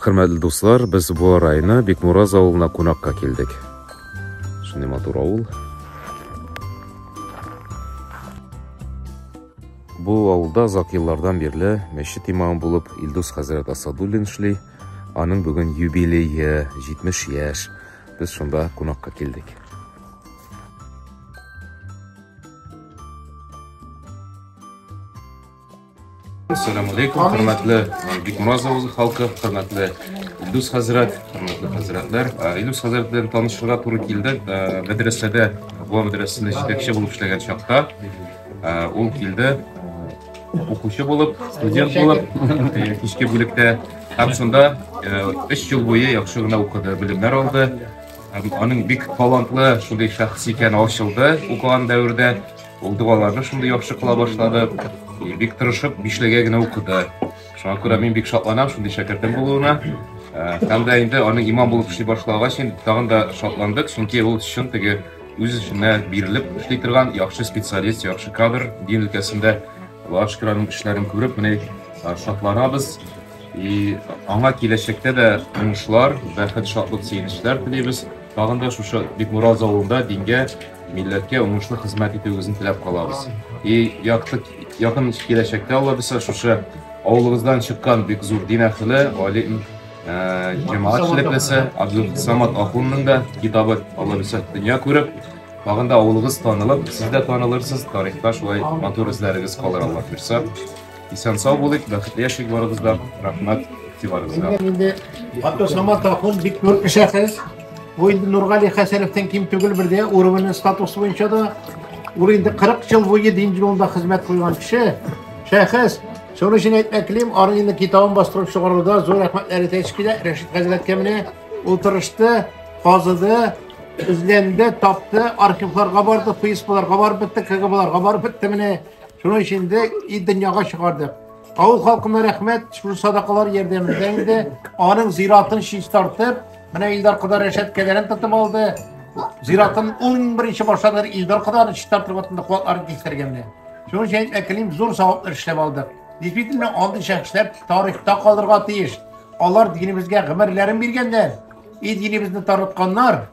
Хөрмәтле дуслар, без бу арайны Бикмураз авылына кунакка килдек. Шундый матур авыл. Бу авылда озак еллардан бирле мәчет имамы булып Илдус хәзрәт Асадуллин эшли. Аның бүген юбилее 70 яшь. Без шунда кунакка килдек. Ассаламу алейкум, хөрмәтле э, Бикмураз авылы халкы, хөрмәтле Илдус хәзрәт, хөрмәтле хәзрәтләр. Э, Илдус хәзрәт белән танышырга туры килде. Э, Мәдрәсәдә, Буа мәдрәсәсендә җитәкче булып эшләгән чакта ул килде. Укучы булып, студент булып, кичке бүлектә һәм шунда 3 ел буе яхшы гына укыды, белемнәр алды. Аның бик талантлы шундый шәхес икәне ачылды укыган дәвердә. Ул догаларны шундый яхшы кыла башлады, бик тырышып, бишлегә генә укыды. Шуңа күрә мин бик шатланам шундый шәкертем булуына. Һәм дә инде аның имам булып эшли башлагач, инде тагын да шатландык, чөнки ул чын теге үз эшенә бирелеп эшли торган яхшы специалист, яхшы кадр дин өлкәсендә. Аллаһ шөкер, аның эшләрен күреп, менә шатланабыз. И аңа киләчәктә дә уңышлар, бәхет, шатлык, сөенечләр телибез. Тагын да шушы Бикмураз авылында дингә, милләткә уңышлы хезмәт итүегезне теләп калабыз. И якты якын киләчәктә Алла бисә шушы авылыгыздан чыккан бик зур дин әхеле, алим, э, җәмәгать эшлеклесе Абдул Самат ахунның да китабы Алла бисә дөнья күреп, тагын да авылыгыз танылып, сез дә танылырсыз, тарихта шулай матур эзләрегез калыр Алла бирсә. Исән сау булыйк, бәхетле яшик барыбыз да. Рәхмәт игътибарыгызга. Инде Ато Саматахун бик зур кешәсез. Бу инде Нургали Хәсәновтан ким түгел бер дә уровень статусы буенча да ул инде 40 ел буе дин юлында хезмәт куйган кеше, шәхес. Шуның өчен әйтмәк телим, аның инде китабын бастырып чыгаруда зур рәхмәтләр әйтәсе килә. Рәшит хәзрәткә менә ул тырышты, казыды, эзләнде, тапты, архивларга барды, ФСБларга барып бетте, КГБларга барып бетте менә. Шуның өчен дә и дөньяга чыгардык. Авыл халкына рәхмәт, шул садакалар ярдәмендә инде аның зиратын чистартып, менә Илдар кода рәшәт кәләрен тотып алды. Зиратын 11-нче башланыр Илдар коданы чистартып атында куатлар кистергәндә. Шуның өчен әкелим зур савап эшләп алдык. Действительно, андый шәхесләр тарихта калырга тиеш. Алар динебезгә гомерләрен биргәндә, и динебезне тарытканнар,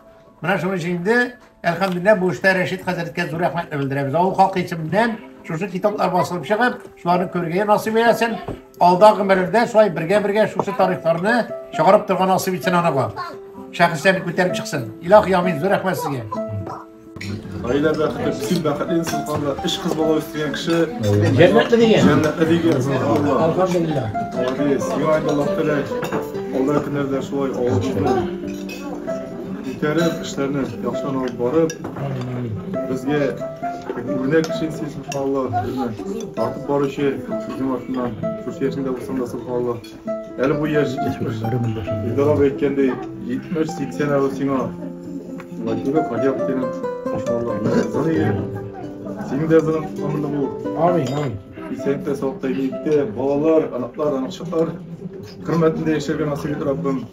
Менә шуның өчен инде, әлхәмдүлилләһ, бу эштә Рәшит хәзрәткә зур рәхмәтне белдерәбез. Авыл халкы исеменнән шушы китаплар басылып чыгып, шуларны күрергә насыйп итсен. Алда гомерләрдә шулай бергә-бергә шушы тарихларны чыгарып торган насыйп итсен анага. Шәхесләрне күтәреп чыксын. Илаһ Ямин, зур рәхмәт сезгә. Гаилә бәхете, бөтен бәхетле инсаннарда эш кыз бала үстергән кеше Җәннәтле дигән. җәннәтле дигән субханалла. Алхамдулилла. Молодец. Сиңа инде Аллаһ теләк. Алда көннәрдә шулай авылыбызны Үткәреп, эшләрне яхшыдан алып барып, безгә үрнәк кеше сез Алла, безне тартып баручы сезнең артыннан, шушы яшендә булсам да Алла. Әле бу яшь җитмеш. Илдар абый әйткәндәй, җитмеш, сиксән әле сиңа. Владимир Хадиев синең, иншалла, зырые. Синең дә зырың тотамында бул. Амин, амин. Исәнлектә, саулыкта, игелекте, балалар, анаклар, анакчыклар хөрмәтендә яшәргә насыйп ит Раббым.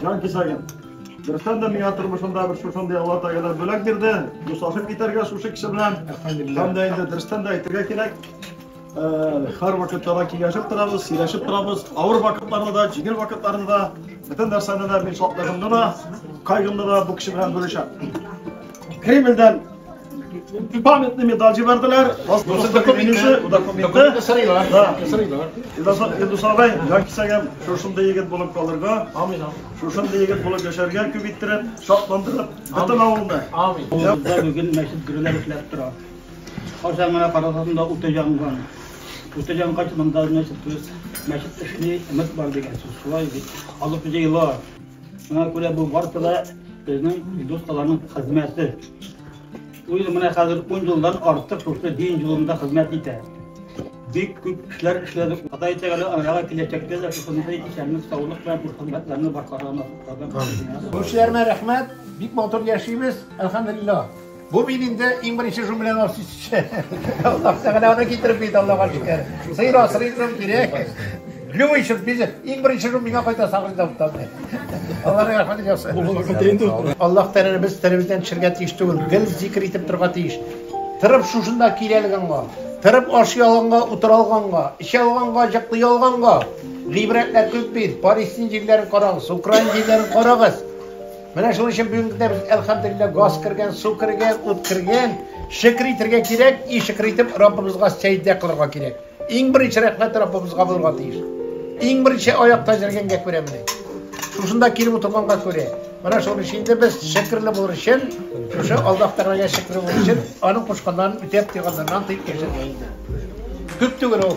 Җан кисәгем. Берсен дә миңа тормышында бер шушындый Алла Тәгалә бүләк бирде. Дуслашып китәргә шушы кеше белән. Һәм дә инде дөрестән дә әйтергә кирәк. Һәр вакытта да киңәшеп торабыз, сөйләшеп торабыз. Авыр вакытларда да, җиңел вакытларда да, бөтен нәрсәдә дә мин шатлыгымны да, кайгымны да бу кеше белән бүлешәм. Кремльдән памятный медаль җибәрделәр. Документы, документы сырыйлар. Да, сырыйлар. Илдус абай, җан кисәгем, шушындый егет булып калырга. Амин. Шушындый егет булып яшәргә күп иттереп, шатландырып, бөтен авылны. Амин. Бүген мәчет гүрләп эшләп тора. Кайчан гына карасаң да үтә янган. Үтә янгач, монда мәчет, мәчет эшли, өмет бар дигән сүз. Шулай бит. Алып җыела. Шуңа күрә бу барысы да безнең дускаларның хезмәте. Ул ел менә хәзер 10 елдан артык шушы дин юлында хезмәт итә. Бик күп эшләр эшләдек. Ходай Тәгалә аңа киләчәктә дә шушындый исәнлек, саулык белән күп хезмәтләрне башкарырга насыйп кылсын. Күршеләрмә рәхмәт, бик матур яшибез, әлхәмдүлиллаһ. Бу мин инде иң беренче шуның белән ашыйсы. Аллаһ Тәгалә аны китереп бит Аллаһка шөкер. Сыйр асрыйсың кирәк. Любой шут бизеп, иң беренче шут миңа кайта сагрый да утамый. Аллаһ рәхмәт ясый. Бу булган китә инде. Аллаһ Тәгалә без телебездән төшергә тиеш түгел, гел зикр итеп торга тиеш. Тырып шушында киләлгәнгә, тырып ашый алганга, утыра алганга, эчә алганга, җыклый алганга. Гыйбрәтләр күп бит. Палестин җирләрен карагыз, Украина җирләрен карагыз. Менә шуның өчен бүгенге көндә без, әлхәмдулиллаһ, газ кергән, су кергән, ут кергән. Шөкер итәргә кирәк, и шөкер итеп, Раббыбызга сәҗдә кылырга кирәк. Иң беренче рәхмәт Раббыбызга булырга тиеш. Иң беренче аякта җөргәнгә күрә менә. Шушында килеп утырганга күрә. Менә шуның өчен инде без шөкерле булыр өчен, шушы Аллаһ Тәгаләгә шөкерле булыр өчен, аның кушканнарын үтәп, тыйганнарыннан тыеп яшәргә инде. Күп түгел ул.